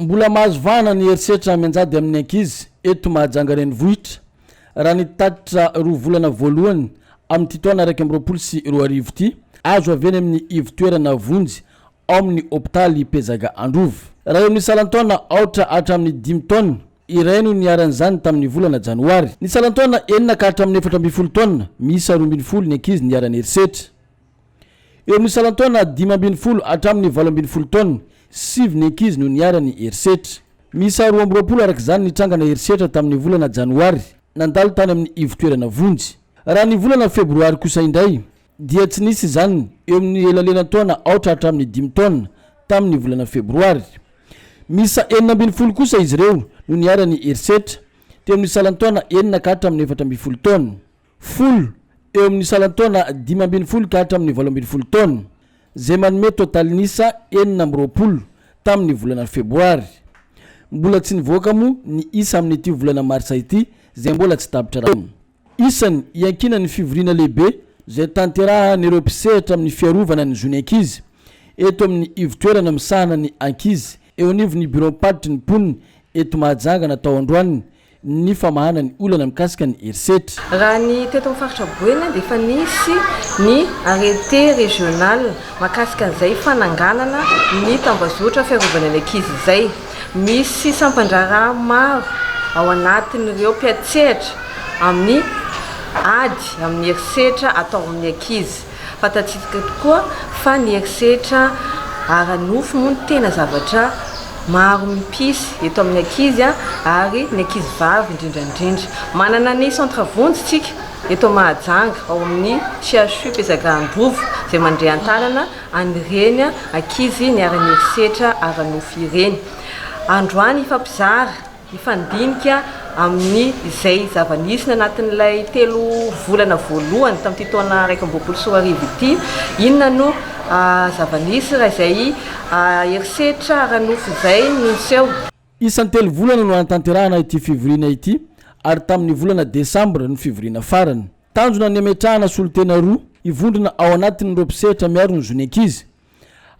Mbola mahazo vahana ny herisetra mianjady amin'ny ankizy eto Mahajanga renivohitra, raha ny tatitra roa volana voalohany amin'ity taona iraika amby roapolo sy roa arivo ity, azo avy eny amin'ny ivon-toerana vonjy ao amin'ny hopitaly Pezaga Androvy. Raha eo amin'ny salan-taona aotra hatramin'ny dimy taona, iray no niharan'izany tamin'ny volana janoary. Ny salan-taona enina ka hatramin'ny efatra ambin'ny folo taona, miisa roa ambin'ny folo ny ankizy niharan'ny herisetra. Eo amin'ny salan-taona dimy ambin'ny folo hatramin'ny valo ambin'ny folo taona, sivy ny ankizy no niharan'ny herisetra. Miisa roa amby roapolo araka izany ny trangana herisetra tamin'ny volana janoary nandalo tany amin'ny ivon-toerana vonjy. Raha ny volana febroary kosa indray dia tsy nisy izany eo amin'ny elalelan-taona aotra hatramin'ny dimy taona tamin'ny volana febroary. Miisa enina ambin'ny folo kosa izy ireo no niharan'ny herisetra teo amin'ny salan-taona enina ka hatramin'ny efatra ambin'ny folo taona. Folo, eo amin'ny salan-taona dimy ambin'ny folo ka hatramin'ny valo ambin'ny folo taona, izay manome totalin'isa enina amby roapolo tamin'ny volana febroary. Mbola tsy nivoaka moa ny isa amin'ity volana marsa ity izay mbola tsy tapitra raha. Isany iankinan'ny fivoriana lehibe izay tanterahan'ireo mpisehatra amin'ny fiarovana ny zon'ny ankizy eto amin'ny ivotoerana misahana ny ankizy eo anivon'ny biraom-paritry ny mponina eto Mahajanga natao androany ny famahana ny olana mikasika ny herisetra. Raha ny teto amin'ny faritra Boeny dia efa nisy ny arrêté régional mahakasika an'izay fananganana ny tambazotra fiarovana ny ankizy izay. Misy sampan-draharaha maro ao anatin'ireo mpiantsehatra amin'ny ady amin'ny herisetra atao amin'ny ankizy. Fantatsika tokoa fa ny herisetra ara-nofo moa no tena zavatra maro mimpisy eto amin'ny ankizy ary ny ankizy vavy indrindra indrindra. Manana ny centre vonjy isika eto Mahajanga ao amin'ny CHU Mpizaga Androvo izay mandre an-tanana an'ireny ankizy niara-niherisetra ara-nofo ireny. Androany hifampizara. Mifandinika amin'ny izay zava-nisy ny anatin'ilay telo volana voalohany tamin'ity taona iraika amby roapolo sy roa arivo ity. Inona no zava-nisy raha izay herisetra ara-nofo izay no niseho? Isan'ny telo volana no hanatanterahana ity fivoriana ity ary tamin'ny volana Desambra no fivoriana farany. Tanjona ny hametrahana solontena roa hivondrona ao anatin'ireo mpisehatra miaro ny zon'ny ankizy.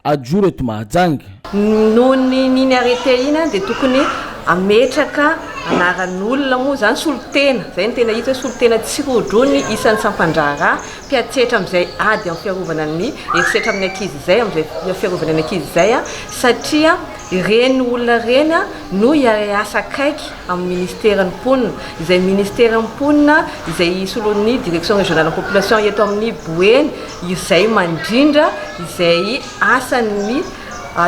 Ajoro eto Mahajanga. Noho ny iny arrêté iny dia tokony hametraka anaran'olona moa izany, solontena, izay no tena hita hoe solontena tsy rojo ny isan'ny sampan-draharaha mpiantsehatra amin'izay ady amin'ny fiarovana ny herisetra amin'ny ankizy izay, amin'izay fiarovana ny ankizy izay, satria ireny olona ireny no hiasa akaiky amin'ny Ministeran'ny Mponina, izay Ministeran'ny Mponina izay hisoloan'ny Direction Régionale en Population eto amin'ny Boeny izay mandrindra izay asan'ny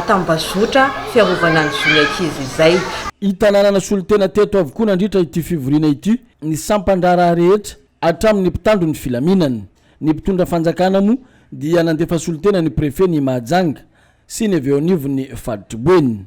tambazotra fiarovana ny zon'ny ankizy izay. I Tanàna nasolo tena teto avokoa nandritra ity fivoriana ity ny sampan-draharaha rehetra hatramin'ny mpitandro ny filaminana. Ny mpitondra fanjakana moa dia nandefa solontena ny Prefet ny Mahajanga sy ny avy eo anivon'ny Faritr'i Boeny.